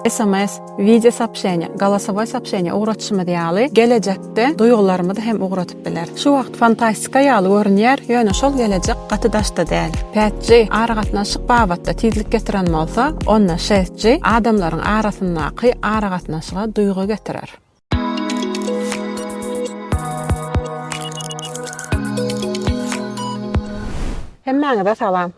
sms, wideo soobşeniýa, golosowoý soobşeniýa ugratyşymyz ýaly, gelejekde duýgularymyzy hem ugratyp biler. Şu wagt fantastika ýaly görünýär, ýöne şol gelejek gaty daşda däl. Pät G aragatnaşyk babatda tizlik getiren bolsa, onda Şest G adamlaryň arasyndaky aragatnaşyga duýgy getirer. Hemmäňize salam.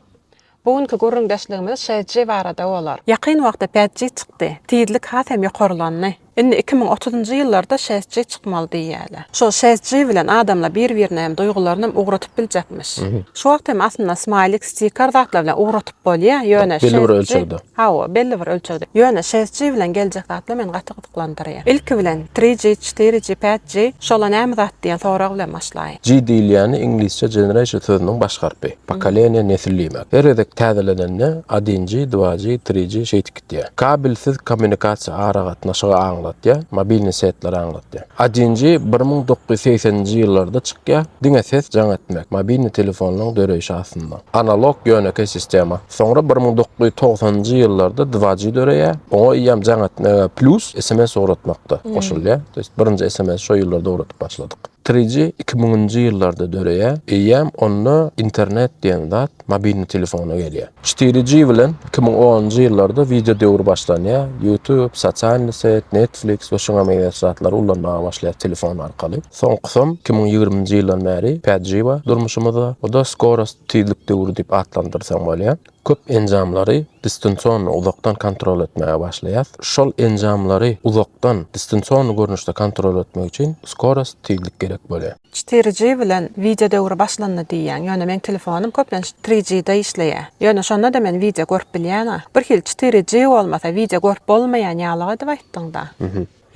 Bu günki gürrüňdeşligimiz şeş G barada bolar. Ýakyn wagtda bäş G çykdy. Tizlik has hem ýokarlandy. Indi iki müň otuzynjy ýyllarda şeş G çykmaly diýýärler. Şol şeş G bilen adamlar bir-birine hem duýgularyny hem ugradyp biljekmiş. Şu wagt hem aslynda smaýlik, stikar zatlar bilen ugradyp bolýar, ýöne şeş G Belli bir ölçegde. Hawa, belli bir ölçegde. Ýöne şeş G bilen geljek zatlar meni gaty tassyklalandyrýar. Ilki bilen, tri ji, çytyry ji, pät ji, şola näme zat diýen sorag bilen başlaýyn. Ji diýilýäni iňlisçe generation sözüniň baş harpy. Pokoleniýa, nesil diýmek. Her gezek täzelenende adin ji, dva ji, tri ji şeýdip gitýär. Kabelsiz kommunikasiýa aragatnaşygy aňlatýar, mobilni setleri aňlatýar. Adin ji bir müň dokuz ýüz segsen nji ýyllarda çykýar, diňe ses jaň etmek, mobilni telefonlaryň döreýşi astynda. Analog ýönekeý sistema. Soňra bir müň dokuz ýüz togsanynjy ýyllarda dva G döreýär. Oňa eýýäm jaň etmäge plus sms ugratmak-da goşulýar. To ýest birinji sms şo ýyllarda ugradyp başladyk. Tri G iki müňünji ýyllarda döreýär. Eýýäm onda internet diýen zat mobilni telefona gelýär. Çtiri G bilen iki müň onunjy ýyllarda wideo döwri başlanýar. Youtube, sosialny set, Netflix we şuňa meňzeş zatlary ullanmaga başlaýar telefon arkaly. Soňkusam iki müň ýigriminji ýyldan bäri Päjiwa durmuşymyzda, o-da skorost, tizlik, döwri diýip atlandyrsaň bolýar. Köp enjamlary distansionno, uzakdan kontrol etmäge başlaýas. Şol enjamlary uzakdan, distansionno görnüşde kontrol etmek üçin skorost, tizlik gerek bolýar. Çetiri G bilen wideo döwri başlandy diýýäň, ýöne meň telefonym köplenç tri G-de işleýär. Ýöne şonda-da men wideo görüp bilýän-a. Birhili çetiri G bolmasa wideo görüp bolmaýan ýalyg edip aýtdyň-da.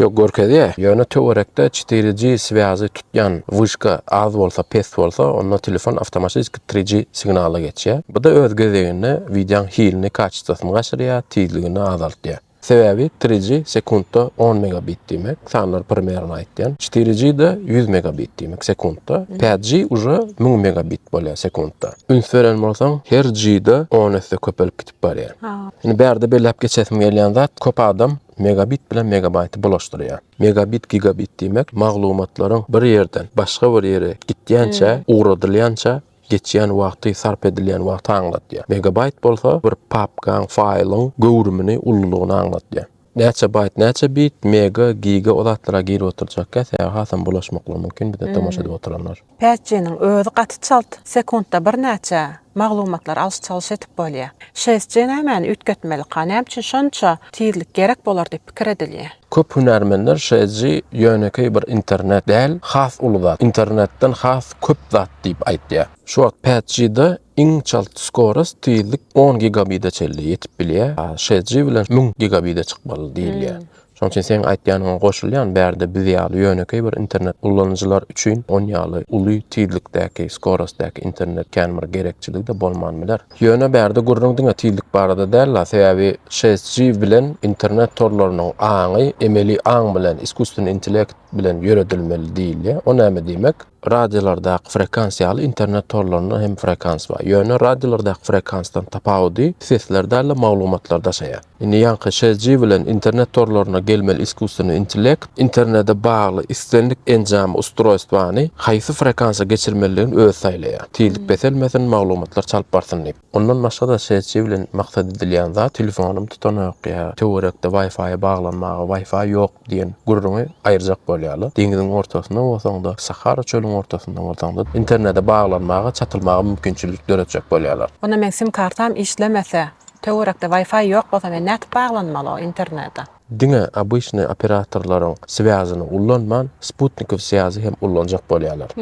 Ýok, görkezýä. Ýöne töwerekde çytyry G swýazy tutýan wyşka az bolsa, pes bolsa, onda telefon awtomatiki tri G signala geçýä. Bu-da öz gezeginde wideoň hilini, kaçestosini gaçyrýa, tizligini azaltýa. Sebäbi tri G sekuntda on megabit diýmek, sanlar primerno aýtýan. Çytyry G-de ýüz megabit diýmek, sekuntda. Päd G uje müň megabit bolýa, sekuntda. Üns beren bolsaň, her G-de on esse köpelip gidip barýa. Indi bärde belläp geçesim gelýän zat, köp adam Megabit bilen megabaýty bulaşdyrýar. Megabit gigabit diýmek maglumatlaryň bir ýerden başga bir ýere gitýänçä, ugradylýança geçýän wagty, sarp edilýän wagty aňladýar. Megabaýt bolsa bir papkaň, faýlyň göwrümini, ululygyny aňladýar. Näçe baýt, näçe bit, mega, giga o zatlara girip oturjakka sebäbi hasam bulaşmaklygy mümkin bize tomaşa edip oturanlar. Päsjiniň özi gaty çalt, sekuntda birnäçe maglumatlary alyş-çalyş edip bolýar. Şeýsje nämäni üýtgetmelika, näme üçin şonça tizlik gerek bolar diýip pikir edilýär. Köp hünärmenler Şeýsji ýönekeý bir internet däl, has uly zat, internetden has köp zat diýip aýtýar. Şu wagt Päsjide Iň çalt skorost, tizlik, on gigabide çenli ýetip bilýär. Şeş G bilen müň gigabide çykmaly diýilýär. Şonuň üçin seň aýtýanyňa goşulýan, bärde biz ýaly ýönekeý bir internet ulanyjylar üçin on ýaly uly tizlikdäki, skorostdaky internet kän bir gerekçiligi-de bolman biler. Ýöne bärde gürrüň diňe tizlik barada däl-la, sebäbi şeş G bilen internet torlarynyň aňy emeli aň bilen, iskusstvenny intellekt bilen ýöredilmeli diýilýär. O näme diýmek? Radiolardaky frekans ýaly internet torlarynda hem frekans bar. Ýöne radiolardaky frekansdan tapawudy sesler däl-de maglumatlar daşaýar. Indi ýaňky CG bilen internet torlaryna gelmeli iskusstweniý intellekt internete bagly islendik enjamy, ustrojstwany, haýsy frekansa geçirmelidigini özi saýlaýar. Tizlik peselmesin, maglumatlar çalyp barsyn diýip. Ondan başga-da SC bilen maksat edilýän zat telefonym tutanok ýa töwerekde Wi-Fi baglanmaga Wi-Fi ýok diýen gürrüňi aýyrjak bolýarlar. Deňziň ortasynda bolsaňda, Sahara çölüň ortasynda bolsaňda internete baglanmaga, çatylmaga mümkinçilik döretjek bolýarlar. Onda meň sim-kartam işlemese, töwerekde Wi-Fi ýok bolsa men nädip baglanmaly o internete? Diňe obyçnyý operatorlaryň swýazyny ullanman, sputnikow swýazy hem ullanjak bolýarlar.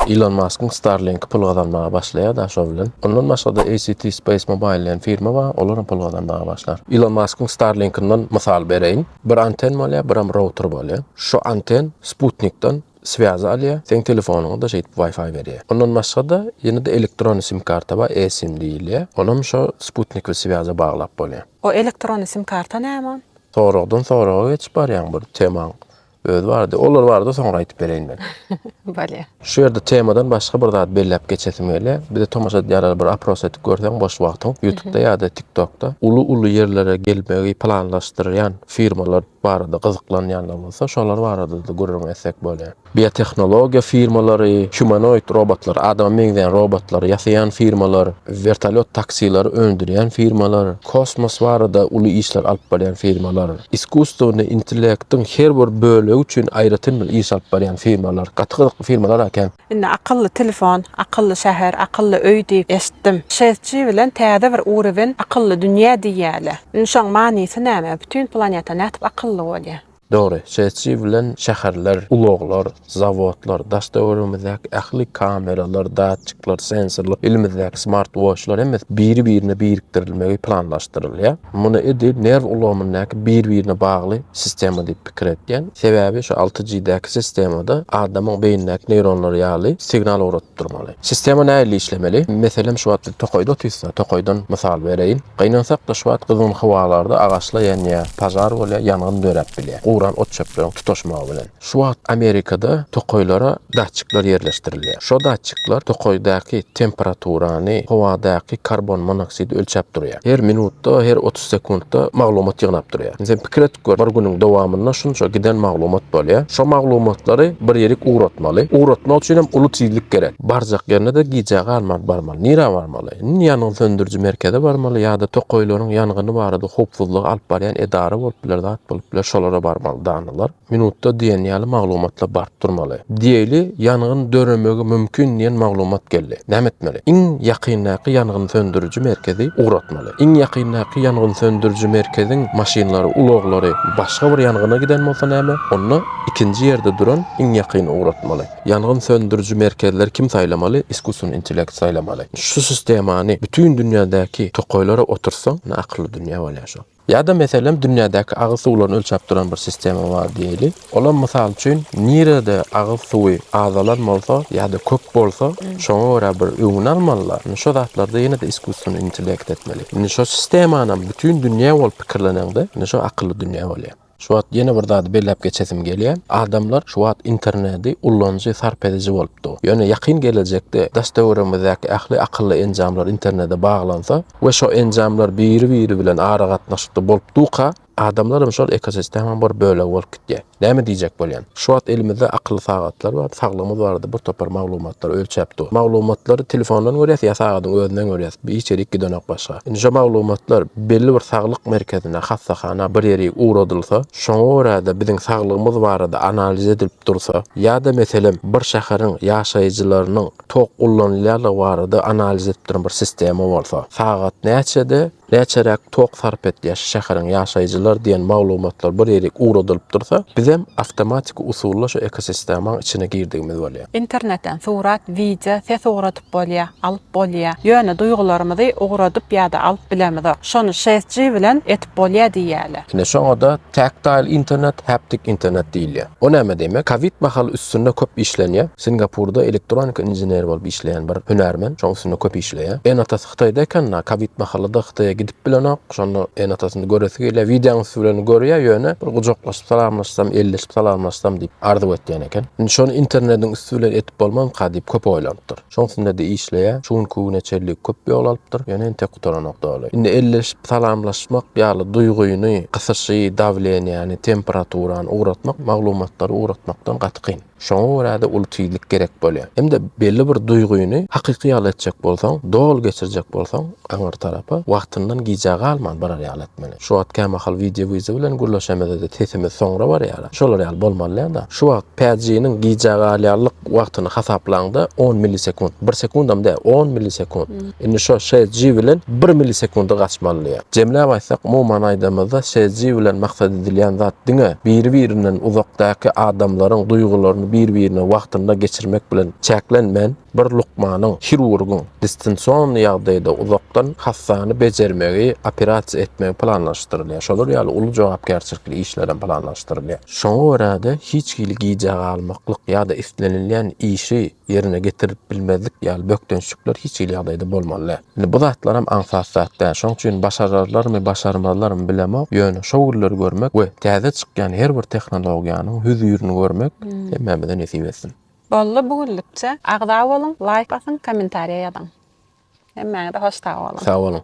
Ilon Maskyň Starlink pul gazanmaga başlaýar da şo bilen. Ondan başga-da ACT Space Mobile diýen firma bar, olar hem pul gazanmaga başlar. Ilon Maskyň Starlinkinden mysal bereýin. Bir anten bolýar, biram router bolýar. Şo anten sputnikden Swýazy alýar, seň telefonyňa-da şeýdip Wi-Fi berýär. Ondan başga-da, ýene-de elektron sim-karta bar, eSIM diýilýär. Onam şo sputnikli swýaza baglap bolýar. O elektron sim-karta näme? Soragdan soraga geçip barýaň bir temaň özi bardy. Olar barada soňra aýdyp bereýin men. Bolýar. Şu ýerde temadan başga bir zat belläp geçesim gelýär. Bize tomaşa edýänlere bir apros edip görseň boş wagtyň, ýutupda ýa-da tiktokda uly-uly ýerlere gelmegi planlaşdyrýan firmalar barada gyzyklanýanlar bolsa, şolar barada-da gürrüň etsek bolýar. Biotehnologiýa firmalary, humanoid robotlary, adama meňzeýän robotlary ýasaýan firmalar, wertolýot taksilary öndürýän firmalar, kosmos barada uly işler alyp barýan firmalar, iskusstwonyý intellektiň her bir bölegi üçin aýratyn bir iş alyp barýan firmalar, gaty gyzykly firmalar eken. Indi akylly telefon, akylly şäher, akylly öý diýip eşitdim. Şeýtji bilen täze bir uruwin akylly dünýä diýýäle. Indi şoň manysy näme? Bütin planeta nätip akylly bolýa? Dogry, şeýtji bilen şäherler, ulaglar, zawodlar, daş-töweregimizdäki ähli kameralar, datçikler, sensorlar, elimizdäki smartwoçlar hemmesi biri-birine birikdirilmegi planlaşdyrylýa. Muny edil nerw ulgamyndaky bir-birine bagly sistema diýip pikir etýän. Sebäbi şu alty G-däki sistemada adamyň beýnindäki neýronlary ýaly signal ugradyp durmaly. Sistema nähili işlemeli? Meselem şu wagt biz tokaýda otyrysda, tokaýdan mysal bereýin. Gynansakda şu wagt gyzgyn howalarda agaçlar ýanýar, pažar bolýar, ýangyn döräp bilýär. Guran ot-çöpleriň tutaşmagy bilen. Şu wagt Amerikada tokaýlara datçikler ýerleşdirilýär. Şo datçikler tokaýdaky temperaturany, howadaky karbon monoksid ölçäp durýar. Her minutda, her otuz. sekuntda maglumat ýygnap durýar. Sen pikir edip gör, bir günüň dowamynda şunça giden maglumat bolýar. Şo maglumatlary bir ýerik ugratmaly. Ugratmak üçin hem uly tizlik gerek. Barjak ýerine-de gijä galman barmaly. Nirä barmaly? Indi ýangyn söndüriji merkeze barmaly ýa-da tokaýlaryň ýangyny barada howpsuzlygy alyp barýan edara bolup biler, zat bolup biler, şolara barmaly, danalar. Minutda diýen ýaly maglumatlar baryp durmaly. Diýeli ýangyn döremegi mümkin diýen maglumat geldi. Näme etmeli? Iň ýakyndaky ýangyn söndüriji merkezi ugratmaly. Iň ýakyndaky ýangyn söndüriji merkeziň maşynlary, ulaglary başga bir ýangyna giden bolsa näme? Onda ikinji ýerde duran iň ýakyny ugratmaly. Ýangyn söndüriji merkezleri kim saýlamaly? Iskusyn intellekt saýlamaly. Şu sistemany bütin dünýädäki tokaýlara oturtsaň, ne akylly dünýä bolýar şol. Ýa-da, meselem, dünýädäki agyz suwlaryny ölçäp duran bir sistema bar diýeli. Olam, mysal üçin, nirede agyz suwy azalan bolsa ýa-da köp bolsa, şoňa görä bir öňüni almaly-la. Indi şo zatlarda ýene-de iskusstweniý intellekt etmeli. Indi şo sistemanam bütin dünýä bolup pikirleneňde, indi şo akylly dünýä bolýar. Şu wagt ýene bir zady belläp geçesim gelýär. Adamlar şu wagt internedi ullanjy, sarp ediji bolupdy. Ýöne ýakyn gelejekde daş-töweregimizdäki ähli akylly enjamlar internede baglansa we şo enjamlar biri-biri bilen aragatnaşykda bolup duka, adamlar hem şol ekosistemaň bir bölegi bolup gitýär. Näme diýjek bolýan? Şu wagt elimizde akylly sagatlar bar, saglygymyz barada bir topar maglumatlary ölçäp dur. Maglumatlary telefondan görýäs ýa sagadyň özünden görýäs, hiç ýerik gidenok başga. Indi şo maglumatlar belli bir saglyk merkezine, hassahana bir ýeri ugradylsa, şoňa görä-de biziň saglygymyz barada analiz edilip dursa, ýa-da meselem bir şäheriň ýaşaýjylarynyň tok ullanylýarlygy barada analiz edip duran bir sistema bolsa, sagat näçede, Näçeräk tok sarp edýär şu şäheriň ýaşaýjylar diýen maglumatlar bir ýerik ugradylyp dursa, bizem awtomatiki usulda şu ekosistemaň içine girdigimiz bolýar. Internetden surat, wideo, ses ugradyp bolýar, alyp bolýar. Ýöne duýgularymyzy ugradyp ýa-da alyp bilemizok. Şony şest-ji bilen etip bolýar diýýärler. Ine şoňa-da tactile internet, haptic internet diýilýär. O näme diýmek? Kowid mahaly üstünde köp işlenýär. Singapurda elektronika inženeri bolup işleýän bir hünärmen şoň üstünde köp işleýär. Ene-atasy Hytaýda ekenda kowid mahalyda Hytaýa gidip bilenok şonda ene atasyny göresi gelýär wideoň üsti bilen görýär ýöne bir gujaklaşyp salamlaşsam elleşip salamlaşsam diýip arzuw etýän eken indi şony internediň üsti bilen edip bolmazmyka diýip köp oýlanypdyr şoň üstündede işleýär şu günki güne çenli köp ýol alypdyr ýöne entek gutaranok doly indi elleşip salamlaşmak ýaly duýgyny gysyşy dawleniýäni temperaturany ugratmak maglumatlary ugratmakdan gaty kyn. Şoňa görä-de uly tizlik gerek bolýar. Hem-de belli bir duýgyny hakyky ýaly etjek bolsaň, doly geçirjek bolsaň, aňyr tarapa, wagtyndan gijä galman barar ýaly etmeli. Şu wagt kämahal wideo-wizo bilen gürleşemizede sesimiz soňra barýar-a. Şolar ýaly bolmalydýa-da. Şu wagt PG-niň gijä galýanlyk wagtyny hasaplaň-da, on millisekunt. Bir sekundam däl, on millisekunt. Indi şo SG bilen bir millisekundy gaçmalydyýa. Jemläp aýtsak, umuman aýdanymyzda SG bilen maksat edilýän zat diňe biri-birinden uzakdaky adamlaryň duýgularyny bir-birine wagtynda geçirmek bilen çäklenmän, bir lukmanyň, hirurgyň distensonny ýagdaýda uzakdan hassany bejermegi, operasiýa etmegi planlaşdyrylýar. Şolar ýaly uly jogapkärçilikli işlerem planlaşdyrylýar. Şoňa görä-de, hiç hili gijä galmaklyk ýa-da islenilýän işi ýerine getirip bilmezlik ýaly bökdençlikler hiç hili ýagdaýda bolmaly däl. Indi bu zatlaram aňsat zat däl. Şoň üçin başararlarmy, başarmazlarmy bilemok, ýöne şo günleri görmek we täze çykýan her bir tehnologiýanyň hüzirini görmek hemmämize nesip etsin. Boldy bu günlükçe. Agza boluň, laýk basyň, kommentariýa ýazyň. Hemmäňize hoş sag boluň. Sag boluň.